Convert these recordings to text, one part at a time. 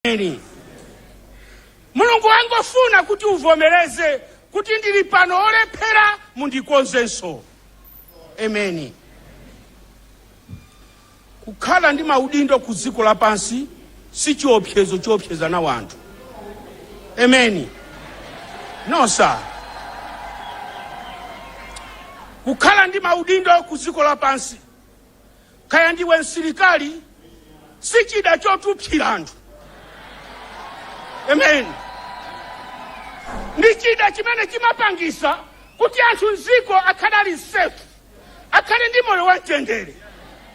Ameni. mulungu wangofuna kuti uvomereze kuti ndili pano olephera mundikonzenso emeni kukhala ndi maudindo ku dziko lapansi si chiopsezo choopseza nacho anthu emeni no sir kukhala ndi maudindo ku dziko lapansi kaya ndiwe msilikali si chida chotupsira anthu amen ndi chida chimene chimapangisa kuti anthu mziko akhale safe akhale ndi moyo wamtendere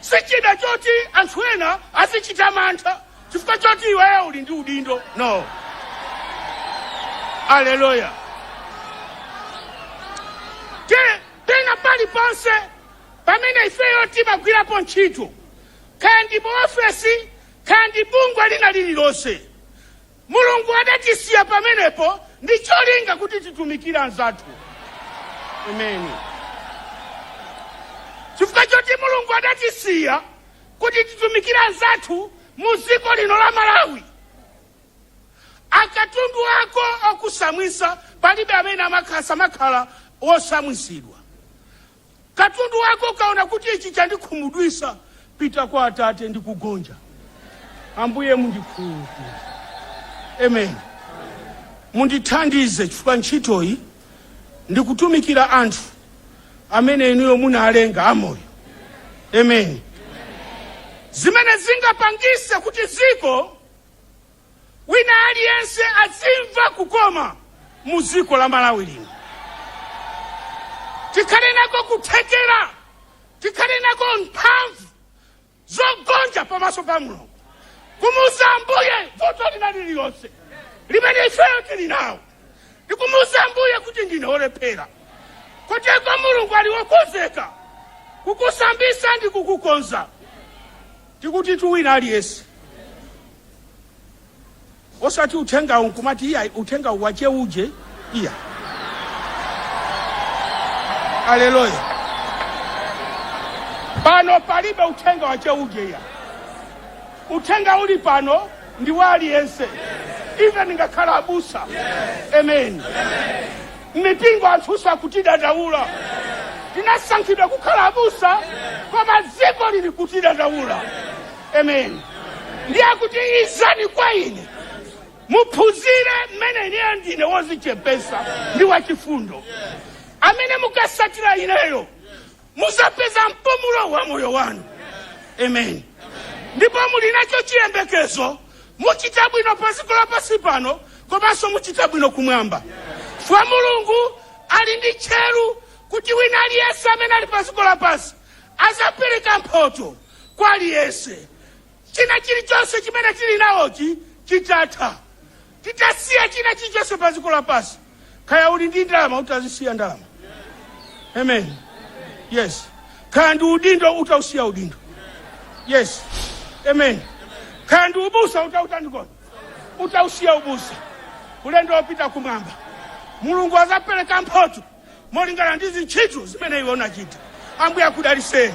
si chida choti anthu ena azichita mantha chifukwa choti iweyo uli ndi udindo no aleluya pena paliponse pamene ifeyo timagwirapo ntchito kaya ndi mu ofesi kaya ndi bungwe lina lililonse Mulungu adatisiya pamenepo ndi cholinga kuti titumikire anzathu. Ameni. Chifukwa choti Mulungu adatisiya kuti titumikire anzathu mu dziko lino la Malawi. Akatundu ako okusambisa palibe amene amakhala samakhala wosambisidwa. Katundu wako ukaona kuti ichi chandikhumudwisa pita kwa atate ndi kugonja. Ambuye mundikhululukire. Amen. Mundithandize chifukwa ntchitoyi ndikutumikira anthu amene inuyo munalenga amoyo. Amen. Zimene zingapangise kuti dziko wina aliyense azimva kukoma mu dziko la Malawi lino. Tikhale nako kuthekera, tikhale nako mphamvu zogonja pamaso pa Mulungu kumuuza Ambuye vuto lina lililonse limene ifeyo tili nalo ndikumuuza Ambuye kuti ndine olephera koteko Mulungu ali wokonzeka kukusambisa ndi kukukonza tikutitu wina aliyense Osati uthengawu nkumati iyayi uthengawu wa che uje iya. Aleluya. Pano palibe uthenga wa che uje iya. Uthenga uli pano ndi wa aliyense. Even ngakhale abusa. Amen. Mipingo anthu akutidandawula. Tinasankhidwa kukhala abusa koma dziko lili kutidandawula. amen ndiye kuti izani kwa ine muphunzire mmene ine ndine wozichepesa ndi wachifundo amene mukasatira ineyo muzapeza mpumulo wa moyo wanu amen ndipo muli nacho chiyembekezo muchita bwino pa dziko lapansi pano komanso muchita bwino kumwamba fwa mulungu ali ndi tcheru kuti wina aliyense amene ali pa dziko lapansi azapereka mphoto kwa aliyense china chilichonse chimene tili nachochi chitatha titasiya china chilichonse pa dziko lapansi kaya uli ndi ndalama utazisiya ndalama amen yes kaya ndi udindo utausiya udindo yes amen kaya ndi ubusa utautandikona utausiya ubusa ulendo wopita kumwamba mulungu azapereka mphoto molingana ndi zintchito zimene iwe unachita. Ambuye akudaliseni.